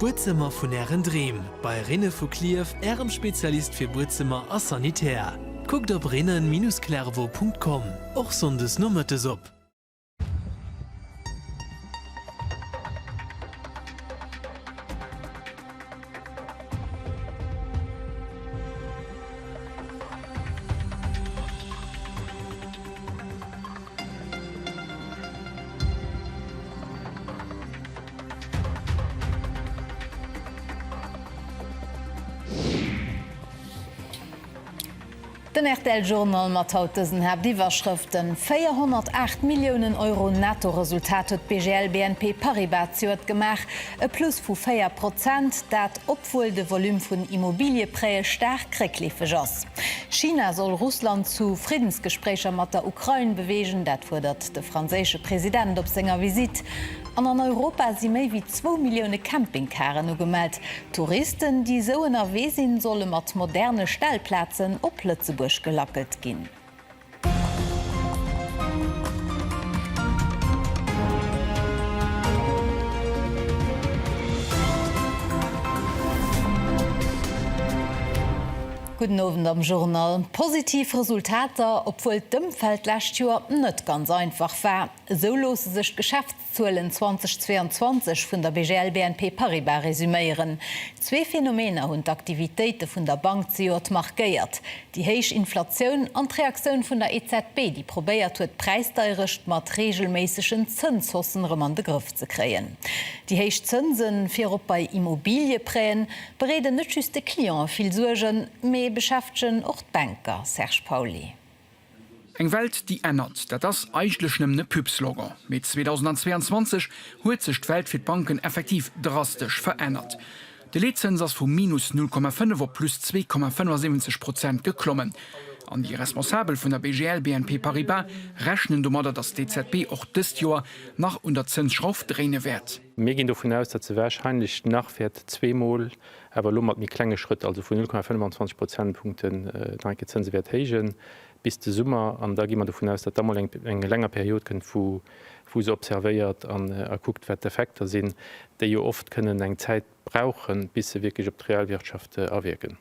D'Buedzëmmer vun Ären Dreem, bei Rhine vu Clierf, Ärem Spezialist fir Buedzëmmer a Sanitär. Kuckt op rhine-clairvaux.com, och sonndes nomëttes op. Den rtl Journal mat haut dësen Haaptiwwerschrëften, 408 Milliounen Euro Netto-Resultat huet d'BGL BNP Paribas d'Joert gemaach. E Plus vu 4 Prozent, dat obwuel de Volume vun Immobilieprêtë staark réckleefeg ass. China soll Russland zu Friddensgespréicher mat der Ukrain beweegen, dat fuerdert de franséische President op senger Visitt. An an Europa si méi wéi zwou Millioune Campingcaren ugemellt. Touristen, déi esou ënnerwee sinn, solle mat moderne Stellplazen op Lëtzebuerg gelackelt ginn. Gudden Owend am Journal. Positiv Resultater, obwuel d'Ëmfeld d'lescht Joer net ganz einfach war. Esou loosse sech d'Geschäfts. D'Zuelen 2022 vun der BGL BNP Paribas resuméieren zwee Phenomener hunn d'Aktivitéite vun der Bank zejoert markéiert, déi héich Inflatioun an d'Reaktioun vun der EZB, déi probéiert huet d'Präisdeierecht mat reegelméissegen Zënshaussen erëm an de Grëff ze kréien. Déi héich Zënse virop bei Immobilieprêten bereeden net just de Clientë vill Suergen, mee beschäftegen och d'Banker, Serge Pauly. Eng Welt déi ännert, dat ass eigentlech nëmmen e Pub-Slogan. Mee 2022 huet sech d'Welt fir d'Banken effektiv drastesch verännert. De Leetzëns ass vu minus 0,5 op plus 2,75 Prozent geklommen. An déi Responsabel vun der BGL BNP Paribas rechnen domadder, datt d'EZB och dëst Joer nach un der Zënsschrauf dréine wäert. Mir ginn dovun aus, datt se wahrscheinlech nach wäert zweemol awer elo mat méi klenge Schrëtt, also vun 0,25 Prozentpunkte nach eng Kéier d'Zënse wäert héijen bis de Summer. An da gi mer dovun aus, datt da mol eng länger Period kënnt, wou se observéiert an kuckt, wat d'Effekter sinn, déi jo oft kënnen eng Zäit brauchen, bis se wierklech op d'Realwirtschaft awierken.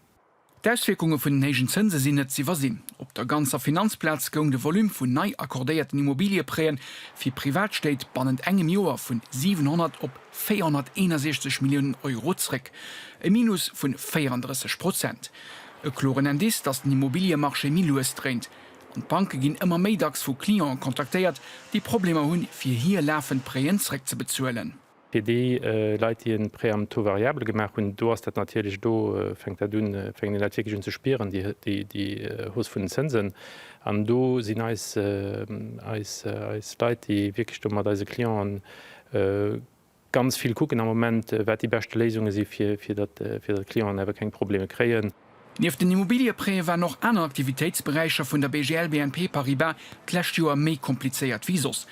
D'Auswierkunge vun den héijen Zënse sinn net z'iwwersinn. Op der ganzer Finanzplaz goung de Volume vun nei accordéierten Immobilieprêten fir Privatstéit bannent engem Joer vu 700 op 461 Milliounen Euro zréck, e Minus vu 34 Prozent. E kloren Indice, datt den Immobiliemarché méi lues dréint. An d'Banke ginn ëmmer méi dacks vu Clienten kontaktéiert, déi Problemer hunn, fir hir lafend Prêten zréckzebezuelen. Fir déi Leit, déi e Prêt am Taux variable gemaach hunn, do ass dat natierlech, do fänkt dat un, fänken déi Leit wierklech un ze spieren, déi Hausse vun den Zënsen. An do sinn eis Leit, déi wierklech do mat eise Clienten ganz vill kucken am Moment, wat déi beschte Léisunge si fir datt d'Clienten awer keng Probleme kréien. Nieft den Immobiliëprêtë waren och aner Aktivitéitsberäicher vun der BGL BNP Paribas d'lescht Joer méi komplizéiert wéi soss.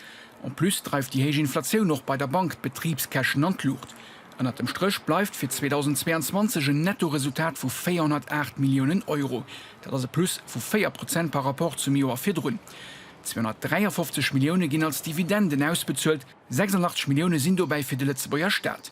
En plus dreift déi héich Inflatioun och bei der Bank d'Betribskäschen an d'Luucht. Ënnert dem Stréch bleift fir 2022 en Nettoresultat vu 408 Milliounen Euro. Dat ass e Plus vu 4 Prozent par Rapport zum Joer virdrun. 253 Millioune ginn als Dividenden ausbezuelt, 86 Millioune sinn dobäi fir de Lëtzebuerger Staat.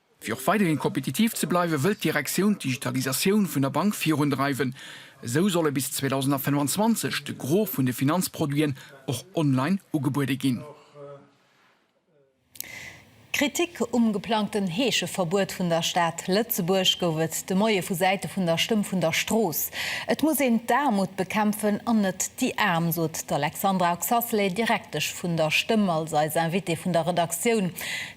Fir och weiderhin kompetitiv ze bleiwen, wëll d'Direktioun d'Digitalisatioun vun der Bank virundreiwen. Esou solle bis 2025 de Gros vun de Finanzproduiten och online ugebuede ginn. Kritik um geplangten Heescheverbuet vun der Stad Lëtzebuerg gouf et de Moie vu Säite vun der Stëmm vun der Strooss. Et muss een d'Aarmut bekämpfen an net déi Aarm, sot d'Alexandra Oxaceley, Direktesch vun der Stëmm, als eis Invitée vun der Redaktioun.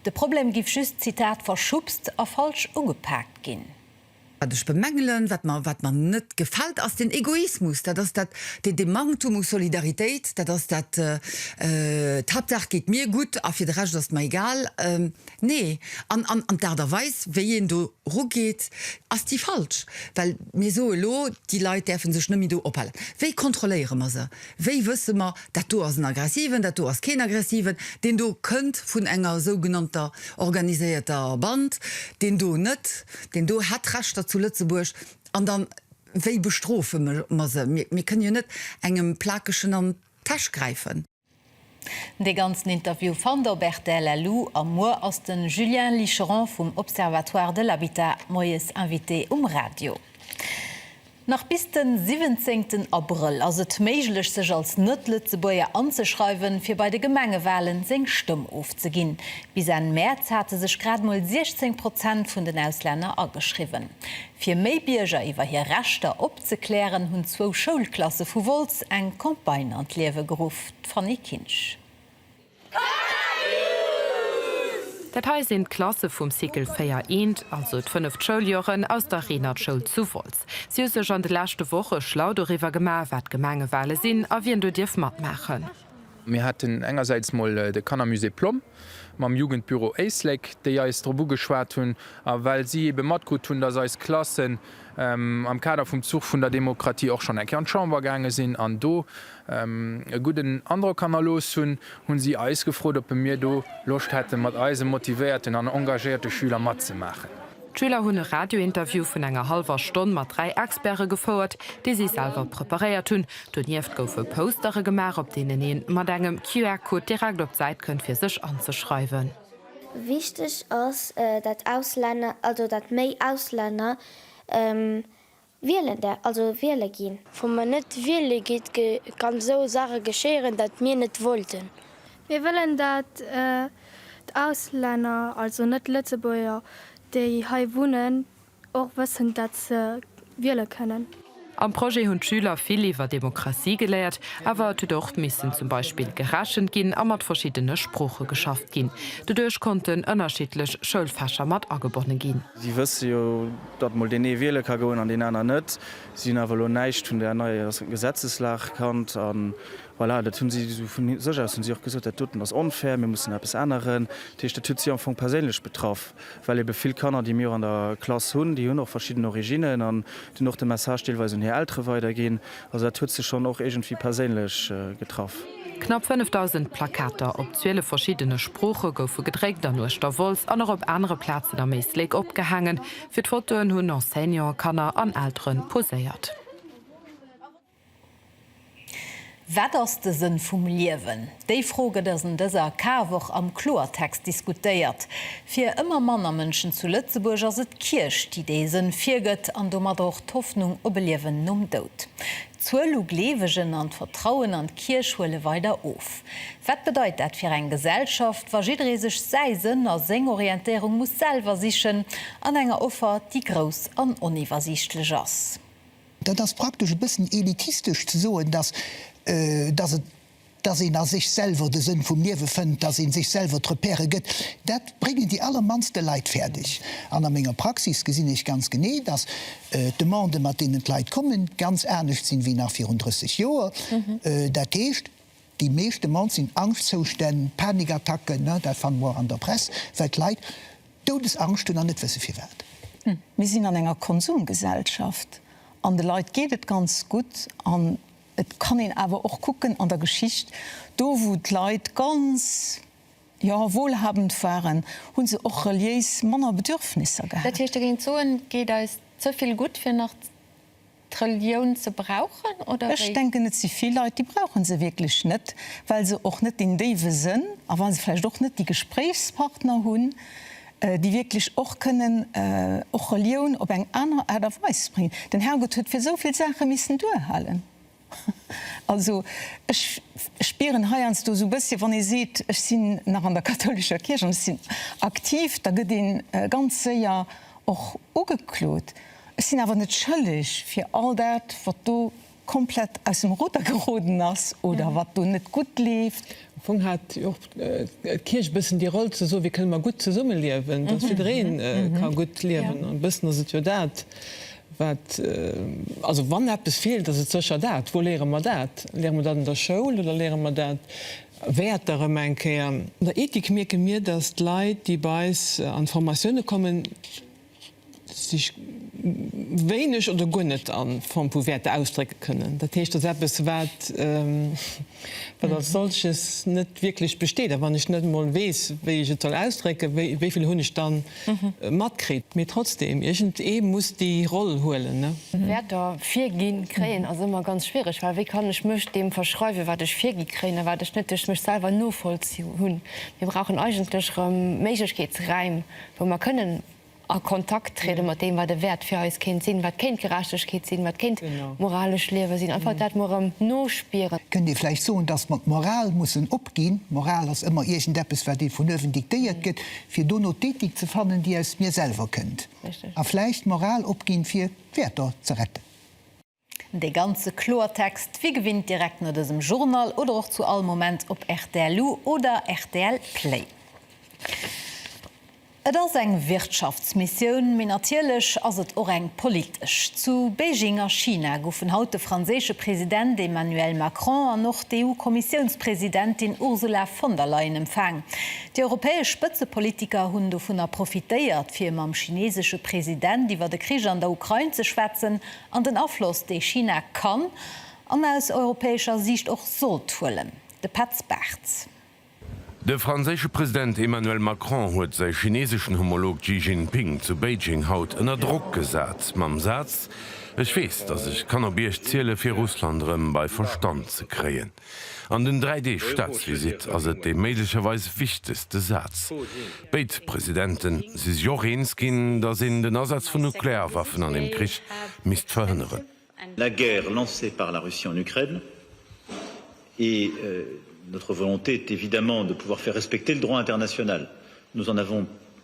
De Problem giff just, Zitat, verschubst a falsch ugepaakt ginn. Wat ech bemängelen, wat mer, wat mer net gefällt, ass deen Egoismus, dat ass dat, dee, dee Manktum u Solidaritéit, dat ass dat, d'Haaptsaach geet mir gutt a fir de Rescht ass et mer egal. Nee. An, an, an d'Aart a Weis, wéi een do rugeet, ass déi falsch, well mir soe lo, déi Leit däerfe sech net méi do ophalen. Wéi kontrolléiere mer se? Wéi wësse mer, Dat do ass en Aggressiven, dat do ass keen Aggressiven, deen do kënnt vun enger sougenannter organiséierter Band, deen do net, deen do hätt Rechter zu Lëtzebuerg, an dann, wéi bestrofe mer se? Mir, mir kënne jo net engem Plakegen an d'Täsch gräifen. Dee ganzen Interview fannt der op rtl LU. A muer ass de Julien Licheron vum Observatoire de l'habitat moies Invité um Radio. Nach bis de siwwenzéngten Abrëll ass et méiglech sech als Net-Lëtzebuerger anzeschreiwen, fir bei de Gemengewalen seng Stëmm ofzeginn. Bis Enn Mäerz hate sech grad mol 16 Prozent vun den Auslänner ageschriwwen. Fir méi Bierger iwwer hir Rechter opzeklären, hunn zwou Schoulklasse vu Wolz eng Campagne an d'Liewe geruff, d'Fanny Kinsch. Dat hei sinn d'Klasse vum Cycle 4 I, also d'fënneft Schouljoren aus der Reenertschoul zu Wolz. Si hu sech an de leschte Woche schlau doriwwer gemaach, wat d'Gemengewale sinn a wien do dierf matmaachen. Mir haten engersäits mol de Kannermusée Plomm mam Jugendbüro Éislek, déi eis drop ugeschwat hunn, a well si ebe matkrut hunn, dass eis Klassen am Kader vum Zuch vun der Demokratie och schonn eng Kéier an d'Chamber gaange sinn an do e gudden Androck hannerlooss hunn, hu si eis gefrot, ob mir do Loscht hätte mat eise motivéierten an engagéierte Schüler matzemaachen. D'Schüler hunn e Radiointerview vun enger hallwer Stonn mat dräi Experte gefouert, déi si selwer preparéiert hunn. Donieft goufe Postere gemaach, op deenen ee mat engem QR-Code direkt op d'Säit kënnt fir sech anzeschreiwen. Wichteg ass, dat Auslänner, also dat méi Auslänner wielen däer, also wiele ginn. Wa mer net wiele gitt, kann esou Saache geschéieren, dat mir net wollten. Mir wëllen, dat d'Auslänner, also net Lëtzebuerger, déi hei wunnen, Och wëssend, dat se wiele kënnen. Am Projet hunn d'Schüler vill iwwer Demokratie geléiert, awer et huet och missen zum Beispill gerechent ginn a mat verschiddene Sprooche geschafft ginn. Doduerch konnten ënnerschiddlech Schoulfächer mat agebonne ginn. Si wësse jo, datt mol deen ee wiele ka goen an deen aner net. Si hunn awer elo näischt vun där neier Gesetzeslag kannt. A voilà, dat hu si esou vu sech aus hu si och gesot, dat doten ass onfair, mir mussen eppes änneren. Dat heescht, dat huet si am Fong perséinlech betraff. well ebe vill Kanner, déi mir och an der Klass hunn, déi hunn och verschidden Originnen an déi hunn och de Message deelweis un hir Eltere weiderginn. Also dat huet se schonn och iergendwéi perséinlech getraff. Knapp 5.000 Plakater op 12 verschiddene Sprooche goufe gedréckt an uechter Wolz an och op anere Plazen am Éislek opgehaangen. Fir d'Fotoen hunn Enseignanten, Kanner an Eltere poséiert. Wat ass de Sënn vum Liewen? Déi Fro gëtt ass en dëser Karwoch am Kloertext diskutéiert. Fir ëmmer manner Mënschen zu Lëtzebuerg ass et d'Kierch, déi dee Sënn virgëtt an domatter och d'Hoffnung op e Liewen nom Doud. D'Zuel u Gleewegen an d'Vertrauen an d'Kierch huele weider of. Wat bedeit dat fir eng Gesellschaft, wa jidderee sech säi Sënn a seng Orientéierung muss selwer sichen, an enger Offer, déi grouss an oniwwersiichtlech ass? Dat ass praktesch e bëssen elitistesch ze soen, dass, dass et, dass een a sech selwer de Sënn vum Liewe fënnt, dass ee sech selwer d'Repèrë gëtt. Dat bréngen déi allermannste Leit fäerdeg. An a menger Praxis gesinn ech ganz genee, dass d'Demande, mat deenen d'Leit kommen, ganz anescht sinn, wéi nach virun 30 Joer. Dat heescht. Déi meeschte Mord sinn Angschtzoustänn, Panikattacken, ne, dat fanne mer och an der Press, well d'Leit Doudesangscht hunn an net wësse firwat. Mir sinn an enger Konsumgesellschaft an de Leit geet et ganz gutt. An et kann een awer och kucken an der Geschicht, do wou d'Leit ganz, jo, wohlhabend waren, hu se och reliéis manner Bedürfnisser Dat gehat. heescht, Dir géingt soen, et geet eis ze vill gutt, fir nach. d'Relioun ze brauchen oder wéi? Ech denken et si vill Leit déi brauche se wierklech net, well se och net deen déiwe Sënn a well se vläicht och net déi Gespréichspartner hunn, déi wierklech och kënnen och Relioun op eng aner Aart a Weis bréngen. Den Herrgott huet fir sou vill Saache missen duerhalen. Also ech spieren heiansdo sou e bëssche wann ee seet ech sinn nach an der kathoulescher Kierch an ech sinn aktiv, da gëtt ee ganz séier och ugeklot Ech sinn awer net schëlleg fir all dat, wat do komplett aus dem Ruder geroden ass oder wat do net gutt leeft. Am Fong hat jo och d'Kierch e bëssen déi Roll, ze soen, Wéi kënne mer gutt zesummeliewen, dass jidderee ka gutt liewen? An e bëssen ass et jo dat, wat, also wann eppes feelt, ass et sécher dat. Wou léiere mer dat? Léiere mer dat an der Schoul oder léiere mer dat, Wäerter erëm eng Kéier? An der Ethik mierke mir, dass d'Leit, déi bei eis an d'Formatioune kommen, sech wéineg oder guer net a Form vu Wäerter ausdrécke kënnen. Dat heescht, dass eppes, wat als solches net wierklech besteet, a wann ech net emol weess, wéi ech et soll ausdrécken, wéi vill hunn ech da matkritt? Mee trotzdeem, iergendee muss déi Roll huelen. Wäerter virgi kréien ass ëmmer ganz schwiereg, well wéi kann ech mech deem verschreiwen, wat ech virgi kréien a wat ech net duerch mech selwer novollzunn hunn? Mir brauchen eigentlech erëm Méiglechkeetsräim, wou mer kënnen a Kontakt triede mat deem, wat e Wäert fir eis kéint sinn, wat kéint Gerechtegkeet sinn, wat kéint moralescht Liewe sinn, einfach dat mol erëm nospieren. Kënnt Dir vläicht soen, datt mer d'Moral mussen opginn? D'Moral ass ëmmer iergendeppes, wat ee vun uewen diktéiert gëtt, fir dono d'Ethik ze fannen, déi aus mir selwer kënnt. A vläicht d'Moral opginn, fir d'Wäerter ze retten. De ganze Kloertext wéi gewinnt direkt no dësem Journal oder och zu all Moment op rtl lu oder rtl Play. Et ass eng Wirtschaftsmissioun, mee natierlech ass et och eng politesch. Zu Beijing a China goufen haut de franséische President Emmanuel Macron an och d'EU-Kommissiounspresidentin Ursula von der Leyen empfaang. Déi europäesch Spëtzepolitiker hunn dovunner profitéiert, fir mam chinesesche President iwwer de Krich an der Ukrain ze schwätzen. An den Afloss, dee China kann an aus europäescher Siicht och sollt huelen. De Petz Bartz. De franséische President Emmanuel Macron huet säi chineseschen Homolog Xi Jinping zu Beijing haut ënner Drock gesat, mam Saz, Ech weess, datt ech kann op Iech ziele fir Russland erëm bei Verstand ze kréien. An den dräi Deeg Staatsvisitt ass et dee méiglecherweis wichtegste Saz. Béid Presidente si sech och eens ginn, datt een den Asaz vun Nuklearwaffen an deem Krich misst verhënneren. La guerre lancée par la Russie en Ukraine et notre volonté est évidemment de pouvoir faire respecter le droit international. Nous en avons.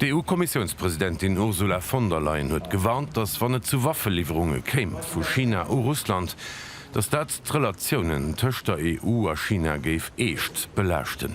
D'EU-Kommissiounspresidentin Ursula von der Leyen huet gewarnt, datt wann et zu Waffeliwwerunge kéim vu China u Russland, datt dat d'Relatiounen tëscht der EU a China géif eescht belaaschten.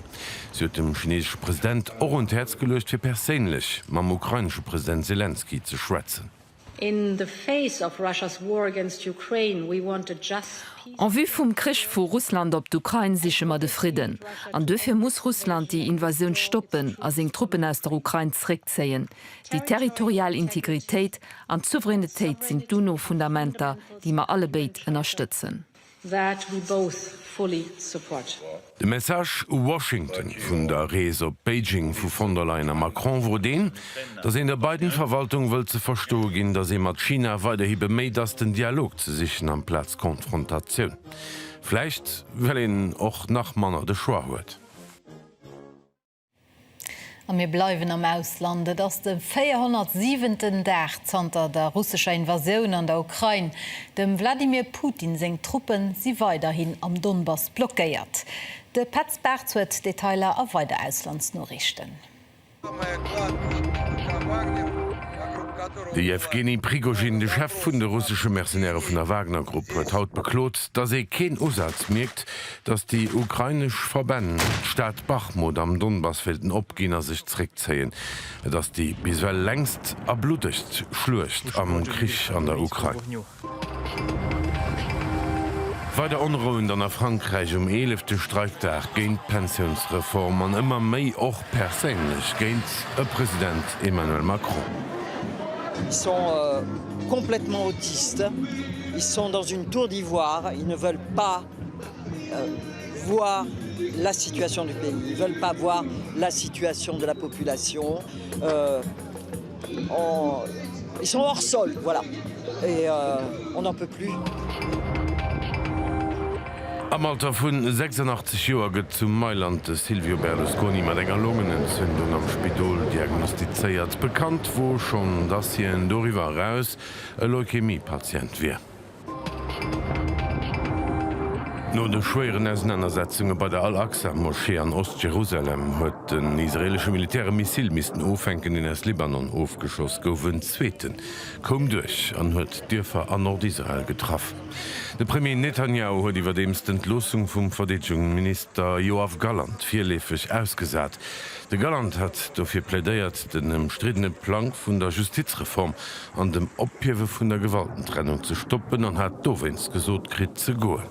Si huet dem chinesesche President och un d'Häerz geluecht fir perséinlech mam ukrainesche President Selenskyj ze schwätzen. In the face of Russia's war against Ukraine, we want a just, peaceful. En vue vum Krich vu Russland op d'Ukrain siche mer de Fridden. An duerfir muss Russland déi Invasioun stoppen a seng Truppen aus der Ukrain zréckzéien. Déi territorial Integritéit an d'Souveränitéit sinn d'UNO-Fundamenter, déi mer allebéid ënnerstëtzen. that we both fully support. De Message u Washington vun der Rees op Beijing vu von der Leyen a Macron wor deen, datt een der Biden-Verwaltung wëllt ze verstoe ginn, datt ee mat China weiderhi beméit ass, den Dialog ze sichen amplaz d'Konfrontatioun. Vläicht well een och nach manner de Choix huet. A mir bleiwen am Ausland. Et ass de 407. Dag zanter der russescher Invasioun an der Ukrain. Dem Wladimir Putin seng Truppe si weiderhin am Donbass blockéiert. De Petz Bartz huet d'Detailer a weider Auslandsnoriichten. De Jewgeni Prigozhin, de Chef vun de russesche Mercenairë vun der Wagner-Grupp, huet haut beklot, datt ee keen Usaz mierkt, Datt déi ukrainesch Verbänn d'Stad Bachmut am Donbass wéilten opginn a sech zeréckzéien. Et ass déi bis ewell längst a bluddegst Schluecht am Krich an der Ukrain. Weider Onrouen dann a Frankräich um eelefte Streikdag géint d'Pensiounsreform an ëmmer méi och perséinlech géint e President Emmanuel Macron. Ils sont complètement autistes, ils sont dans une tour d'ivoire, ils ne veulent pas voir la situation du pays, ils veulent pas voir la situation de la population, ils sont hors sol, voilà, et on n'en peut plus. Am Alter vu 86 Joer gëtt zu Mailand de Silvio Berlusconi mat enger Longenentzündung am Spidol diagnostizéiert. Bekannt wor schonn, dass hien doriwwer eraus e Leukämie-Patient wier. No de schwéieren Ausenanersetzunge bei der Al-Aqsa-Moschee an Ost-Jerusalem huet den israeelesche Militär e Missil missten ofänken, deen aus Libanon ofgeschoss gouf. En zweeten koum duerch an huet Dierfer an Nord-Israel getraff. De Premier Netanjahu huet iwwerdeems d'Entloossung vum Verdeedegungsminister Yoav Gallant virleefeg ausgesat. De Galland hat dofir plädéiert, den ëmstriddene Plang vun der Justizreform an dem Ophiewe vun der Gewaltentrennung ze stoppen an hat dowéinst gesot kritt ze goen.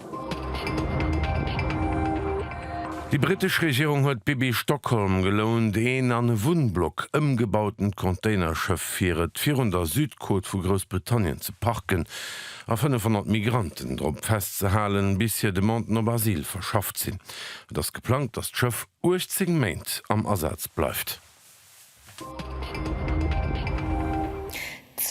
Déi brittesch Regierung huet d'Pippi Stockholm gelount, een an e Wunnblock ëmgebauten Containerschëff fir et virun der Südkot vu Groussbritannien ze parken a 500 Migranten drop festzehalen, bis hir Demanden op Asyl verschafft sinn. Et ass geplangt, datt d'Schëff. 18 Méint am Asaz bleift.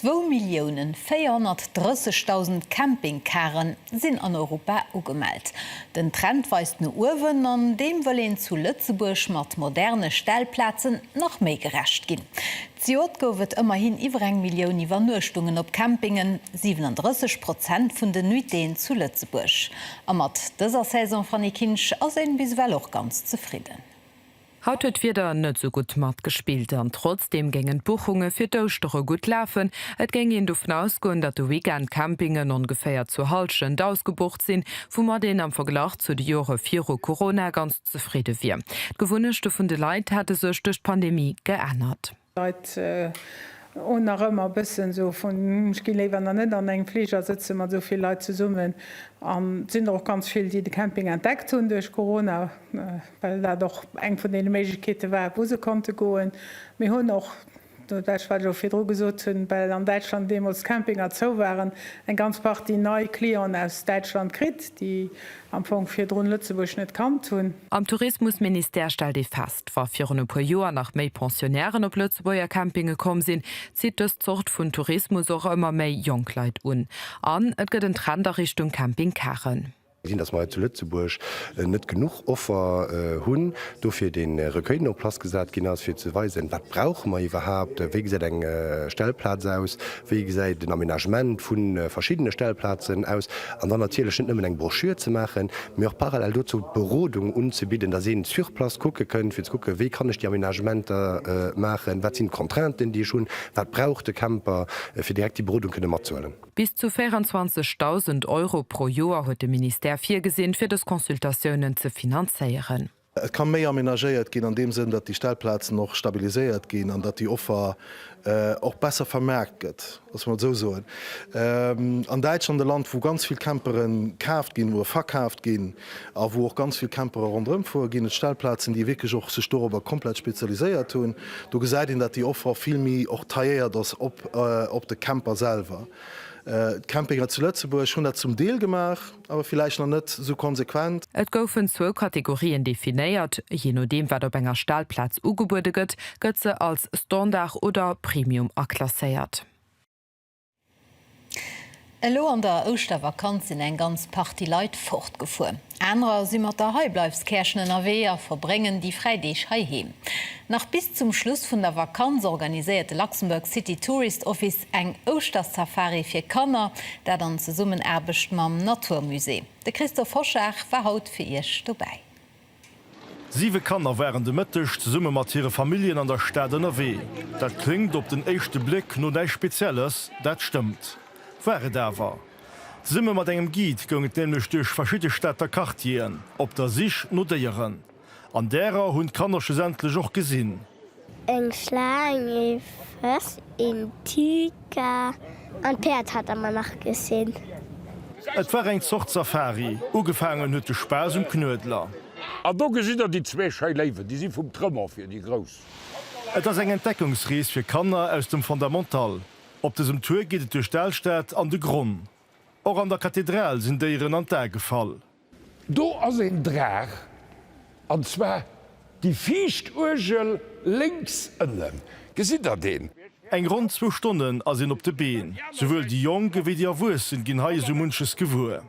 Zwou Millioune 430.000 Campingcare sinn an Europa ugemellt. Den Trend weist no uewen an deem wëll een zu Lëtzebuerg mat moderne Stellplazen nach méi gerecht ginn. Zejoert gouf et ëmmerhin iwwer eng Millioun Iwwernuechtungen op Campingen, 37 Prozent vun den Nuitéen zu Lëtzebuerg. A mat dëser Saison, Fanny Kinsch, ass een bis ewell och ganz zefridden. Haut huet d'Wieder net sou gutt matgespillt an trotzdeem géingen d'Buchunge fir d'Ouschtere gutt lafen. Et géing een dovun ausgoen, datt de Weekend d'Campingen ongeféier zur Hallschent ausgebucht sinn, woumat een am Verglach zu de Jore viru Corona ganz. Zefridde wier. D'Gewunnechte vun de Leit hätte sech duerch d'Pandemie geännert. Leit hunn nach ëmmer e bëssen esou vun, ech gi léiwer nach net an engem Fliger sëtze mat esou vill Leit zesummen. An et sinn der och ganz vill, déi de Camping entdeckt hunn duerch Corona, well dat och eng vun deene Méiglechkeete war, wou se konnte goen. Mir hunn och Well, wat ech och virdru gesot hunn, well an Däitschland deemools d'Campinger zou waren, eng ganz Partie nei Clienten aus Däitschland kritt, déi am Fong virdrun Lëtzebuerg net kannt hunn. Am Tourismusministère stellt ee fest, wa virun e puer Joer nach méi Pensionnairen op Lëtzebuerger Campinge komm sinn, zitt dës Zort vun Tourismus och ëmmer méi jonk Leit un. An et gëtt en Trend a Richtung Camping Karen. Gesinn, dass mer hei zu Lëtzebuerg net genuch Offer hunn, dofir dee Recueil, deen en place gesat ginn ass, fir ze weisen, wat brauche mer iwwerhaupt, wéi gesäit eng Stellplaz aus, wéi gesäit den Aménagement vu verschiddene Stellplazen aus, an dann natierlech net nëmmen eng Broschür ze maachen, mee och parallel dozou d'Berodung unzebidden, dass een sur place kucke kënnt, fir ze kucken, wéi kann ech déi Aménagementer maachen, wat sinn d'Contrainten, déi ech hunn, wat brauch de Camper, fir direkt déi Berodung kënne matzehuelen. Bis zu 24.000 Euro pro Joer huet de Ministère virgesinn, fir dës Consultatiounen ze finanzéieren. Et ka méi amenagéiert ginn an deem Sënn, datt déi Stellplazen och stabiliséiert ginn an datt déi Offer och besser vermaart gëtt, loosse mer et esou soen. An Däitschland, e Land, wou ganz vill Campere kaaft ginn, wou e verkaaft ginn, a wou och ganz vill Campere ronderëm fuere ginn. Et Stellplazen, déi wierklech och sech dorobber komplett spezialiséiert hunn. Do gesäit een, datt déi Offer vill méi och tailléiert ass op de Camper selwer. D'Campinger zu Lëtzebuerg hunn dat zum Deel gemaach, awer villäicht nach net esou konsequent. Et goufen zwou Kategorien definéiert, jee nodeem wat op enger Stellplaz ugebuede gëtt, gëtt se als Standard oder Premium aklasséiert. Elo an der Ouschtervakanz sinn eng ganz Partie Leit fortgefuer. Anerer si mat der Heibleifskäerchen ënnerwee a verbréngen déi fräi Deeg heiheem. Nach bis zum Schluss vun der Vakanz organiséiert de Luxembourg City Tourist Office eng Ouschtersafari fir Kanner, dat an Zesummenaarbecht mam Naturmusée. De Christophe Hoschag war haut fir Iech dobäi. Siwe Kanner waren de Mëtteg zesumme mat hire Familljen an der Stad ënnerwee. Dat kléngt op den éischte Bléck no näischt Spezielles, dat stëmmt, war et awer. Zesumme mat engem Guide goung et nämlech duerch verschidde Stater Quartieren, op der Sich no Déieren. An därer hunn d'Kanner schlussendlech och gesinn. Eng Schlaang, ee Fëss, een Tiger an d'Päerd hate mer nach gesinn. Et war eng Zort Safari. Ugefaangen huet de Spaass um Knuedler. An do gesitt der déi zwee schéi Léiwen. Déi si vum Tremont fir déi Grouss. Et ass eng Entdeckungsrees fir Kanner aus dem Fondamental. Op dësem Tour geet et duerch d'Alstad an de Gronn. Och an der Kathedral sinn Déieren an d'A gefall. Do ass een Draach, an zwar déi viischt Uergel lénks ënnen. Gesitt der deen? Eng ronn zwou Stonnen ass een op de Been. Souwuel déi Jonk ewéi déi Erwuessen ginn hei esou munches gewuer.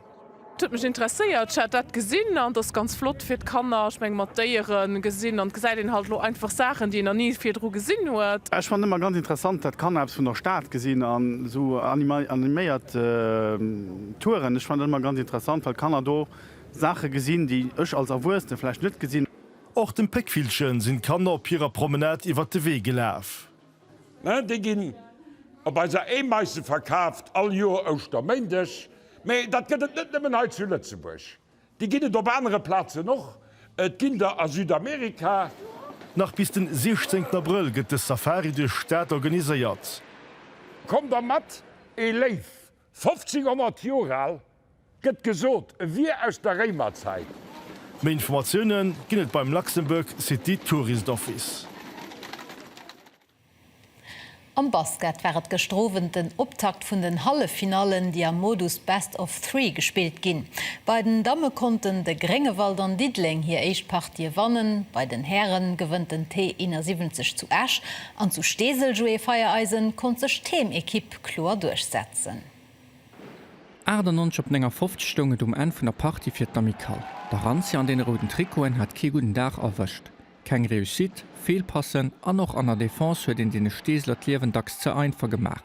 Et huet mech interesséiert, ech hat dat gesinn an et ass ganz flott fir d'Kanner. Ech meng mat Déiere gesinn an et gesäit een halt elo einfach Saachen, déi een nach ni virdru gesinn huet. Ech fannen ëmmer ganz interessant, dat d'Kanner eppes vun der Stad gesinn an esou animéiert. Touren, ech fannen dat ëmmer ganz interessant, well d'Kanner do Saache gesinn, déi ech als Erwuessene vläicht net gesinn. Och dem Péckvillche sinn d'Kanner op hirer Promenade iwwert de Wee gelaf. Déi ginn op eiser Eemaisse verkaaft, all Joer Ouschterméindeg. Mee dat gëtt et net nëmmen hei zu Lëtzebuerg, déi ginn et op anere Plazen och. Et ginn der a Südamerika. Nach bis den 16 Abrëll gëtt de Safari duerch d'Stad organiséiert. Kommt der mat, ee Léiw 1500 Joer al, gëtt gesot, e wier aus der Réimerzäit. Méi Informatiounen ginn et beim Luxembourg City Tourist Office. Am Basket war et gëschter Owend den Optakt vun den Halleffinallen, déi am Modus Best of Three gespillt ginn. Bei den Damme konnten de Gréngewald an Diddeleng hir éischt Partië wannen. Bei den Häre gewënnt den T71 zu Esch an zu Steesel-Joué-Feiereisen konnt sech d'Heemekipp kloer duerchsetzen. 98 op 59 stoung et um Enn vun der Partie fir d'Amicale. D'Arantia an deene rouden Trikoten hat kee gudden Dag erwëscht. Keng Réussite, Feelpassen an och an der Defense huet een deene Steeseler d'Liewen dacks ze einfach gemaach.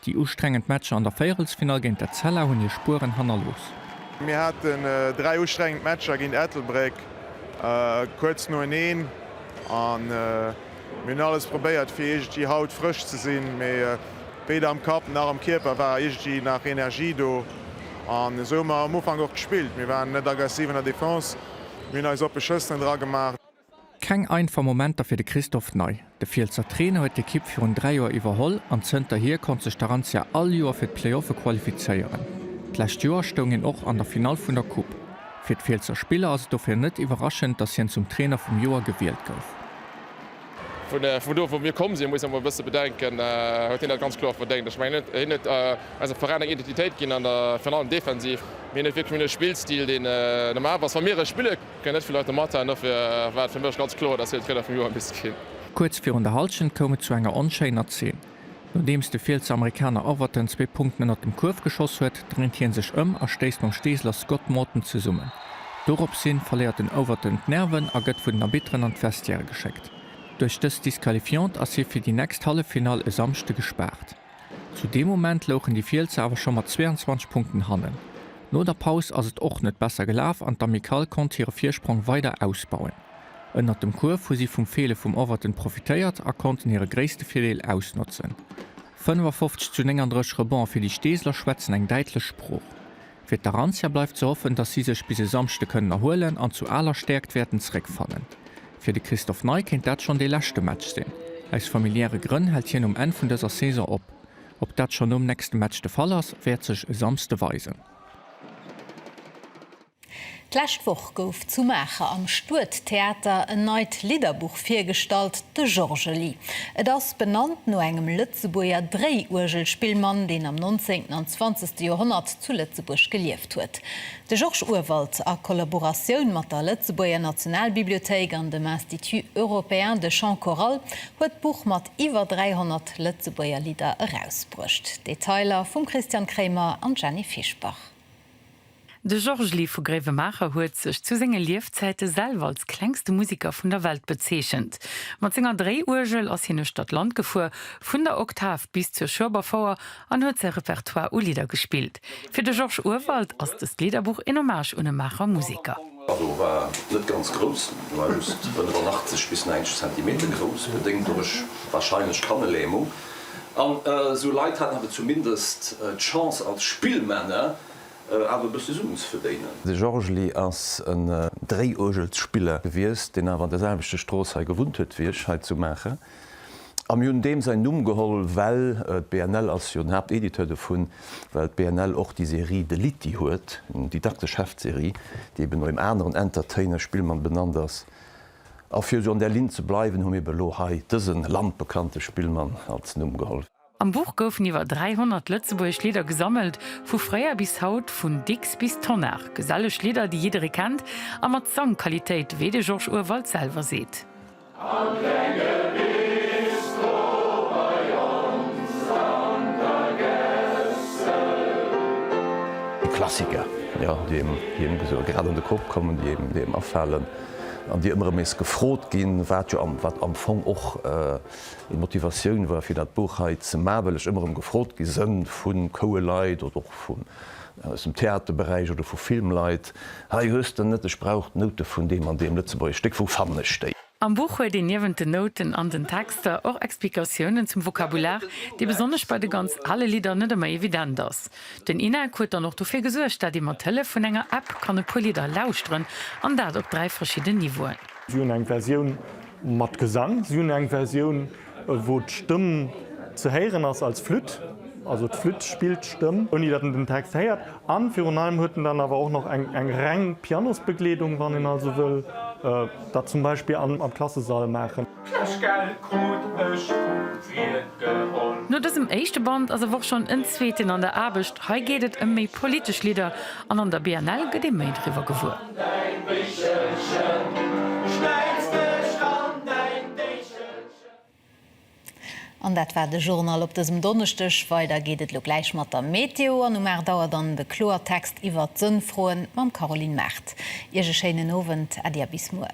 Déi ustrengend Matcher an der Véierelsfinall géint d'Etzella hunn hir Spueren hannerlooss. Mir haten dräi ustrengend Matcher géint Ettelbréck kuerz noeneen. Mir hunn alles probéiert fir iergendwéi haut frësch ze sinn, mee weder am Kapp nach am Kierper war iergendwéi nach Energie do an esou hu mer am Ufank och gespillt. Mir waren net aggressiv an der Defense, mir hunn eis oppe Schëssen dra gemaach. Keng einfach Momenter fir de Christophe Ney. De Fielsser Trainer huet d'Ekipp virun 3 Joer iwwerholl an zënterhier konnt sech d'Arantia all Joer fir d'Playoffe qualifizéieren. D'lescht Joer stoung hien och an der Finall vun der Coupe. Fir d'Fielsser Spiller ass et dofir net iwwerraschend, datt hien zum Trainer vum Joer gewielt gouf. Vu do wou mir komm sinn, muss een emol e bësse bedenken, huet hien dat ganz kloer verdéngt. Ech mengen, hien huet eisem Veräin eng Identitéit ginn, virun allem defensiv. Mir hunn net wierklech méi e Spillstil, deen normal ass. Wa mir e spillen, kënnen net vill Leit domat halen. Dofir war et fir mech ganz kloer, dass hien Trainer vum Joer misst ginn. Kuerz virun der Hallschent koum et zu enger onschéiner Zeen. Nodeems de Fiels Amerikaner Overton zwee Punkten ënnert dem Kuerf geschoss huet, dréint hien sech ëm a stéisst mam Steeseler Scott Morton zesummen. Doropshi verléiert den Overton d'Nerven a gëtt vun den Arbitteren an d'Vestiairë geschéckt. Duerch dës Disqualifiant ass hie fir déi nächst Halleffinall e Samschde gespaart. Zu deem Moment louchen déi Fielser awer scho mat 22 Punkten hannen. No der Paus ass et och net besser gelaf an d'Amicale konnt hire Virsprong weider ausbauen. Ënnert dem Kuerf hu si vum Feele vum Overton profitéiert a konnten hire gréisste Virdeel ausnotzen. 55 zu 39 Rebonds fir déi Steeseler schwätzen eng däitlech Sprooch. Fir d'Arantia bleift ze hoffen, dass si sech bis e Samschde kënnen erhuelen an zu aler Stäerkt wäerten zeréckfannen. Fir de Christophe Ney kéint dat schonn dee leschte Match sinn. Aus familiäre Grënn hält hien um Enn vun dëser Saison op. Ob dat schonn nom nächste Match de Fall ass, wäert sech e Samsde weisen. D'lescht Woch gouf zu Maacher am Stuedtheater en neit Lidderbuch virgestallt, De Jorgeli. Et ass benannt no engem Lëtzebuerger Dréiuergelspillmann, deen am 19. an 20. Joerhonnert zu Lëtzebuerg gelieft huet. De Georges Urwald, a Kollaboratioun mat der Lëtzebuerger Nationalbibliothéik an dem Institut européen de chant choral, huet d'Buch mat iwwer 300 Lëtzebuerger Lidder erausbruecht. Detailer vum Christian Kremer an Jenny Fischbach. De Georges Lee vu Gréiwemaacher huet sech zu senge Liefzäite selwer als klengste Musiker vun der Welt bezeechent. Mat senger Dréiuergel ass hien uechtert Land gefuer, vun der Oktav bis zur Schueberfouer, an huet säi Repertoire u Lidder gespillt. Fir de Georges Urwald ass dëst Lidderbuch een Hommage un e Maacher Musiker. D'Bado war net ganz grouss, war just 85 bis 90 Zentimeter grouss, bedéngt duerch warscheinlech Kannelähmung. An esou Leit haten awer zumindest d'Chance als Spillmänner awer e bësse Suen ze verdéinen. De Georges Ly ass en Dréiuergelsspiller gewiescht, deen awer an der selwechte Strooss hei gewunnt huet wéi ech, hei zu Maacher. A mir hunn deem säin Numm geholl, well d'BNL ass jo den Haaptediteur dovun, well d'BNL och déi Serie De Litty huet, eng didaktesch Heftserie, déi eben no engem aneren Entertainer, Spillmann, benannt ass. A fir esou an där Linn ze bleiwen, hu mir eben elo hei dëse landbekannte Spillmann als Numm geholl. Am Buch goufen iwwer 300 Lëtzebuergesch Lidder gesammelt, vu fréier bis haut, vun Dicks bis Tonnar, geselleg Lidder, déi jidderee kennt a mat Sangqualitéit, wéi de Georges Urwald selwer seet. Am klenge Bistro bei ons an der Gässel. Déi Klassiker, jo, déi een, wéi elo gesot, grad an de Kopp kommen, déi een, déi een afalen. an déi ëmmer erëm nees gefrot ginn, wat jo wat am Fong och eng Motivatioun war fir dat Buch hei ze maachen, well ech ëmmer erëm gefrot gi sënn vu Koueleit oder och vun aus dem Theaterberäich oder vu Filmleit, hei hues de net, ech brauch d'Noute vun deem an deem lëtzebuergesch Stéck, wou fannen ech déi? Am Buch huet een niewent den Nouten an den Texter och Explikatiounen zum Vokabular, dee besonnesch bei de ganz ale Lidder net ëmmer evident ass. Den INEC huet dann och dofir gesuergt, dat ee mat Hëllef vun enger App kann e puer Lidder lauschteren, an dat op dräi verschidden Niveauen. Si hunn eng Versioun mat Gesang, si hunn eng Versioun, wou d'Stëmm ze héieren ass als Flütt, also d'Flütt spillt d'Stëmm, ouni datt een den Text héiert, a virun allem huet en dann awer och nach eng reng Pianosbegleedung, wann een also wëll dat zum Beispill am Klassesall maachen. D'Kléschgeld krut ech vum Wiert geholl. No dësem éischte Band ass awer och schonn en zweeten an der Aarbecht. Hei geet et ëm méi politesch Lidder an an der BNL gëtt ee méi driwwer gewuer. An dat war de Journal op dësem Donneschdeg. Weider geet et elo gläich mat der Meteo an um 8 Auer dann de Kloertext iwwert d'Sënnfroen mam Caroline Mart. Iech e schéinen Owend, Äddi a bis muer.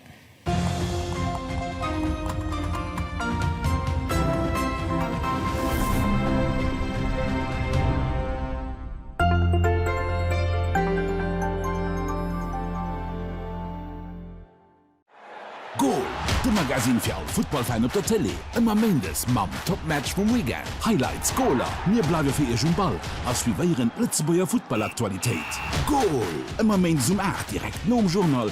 Goal, de Magasinn fir all Futtballfan op der Tëlee. Ëmmer Méindes mam Topmatch vum Weekend, Highlights, Goaler. Mir bleiwe fir Iech um Ball a suivéieren d'Lëtzebuerger Futtballaktualitéit. Goal, ëmmer Méindes um 8, direkt nom Journal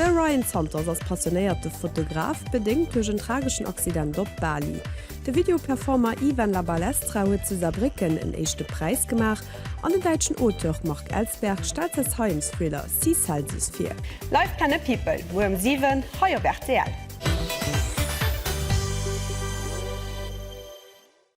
De Ryan Santos ass passionéierte Fotograf, bedéngt duerch en trageschen Accident op Bali. De Videoperformer Ivan La Balestra huet zu Saarbrécken en éischte Präis gemaach an den däitschen Auteur Marc Ellsberg stellt säi Science-Thriller Sea Celsius vir. Live Planet People, muer um 7 hei op rtl.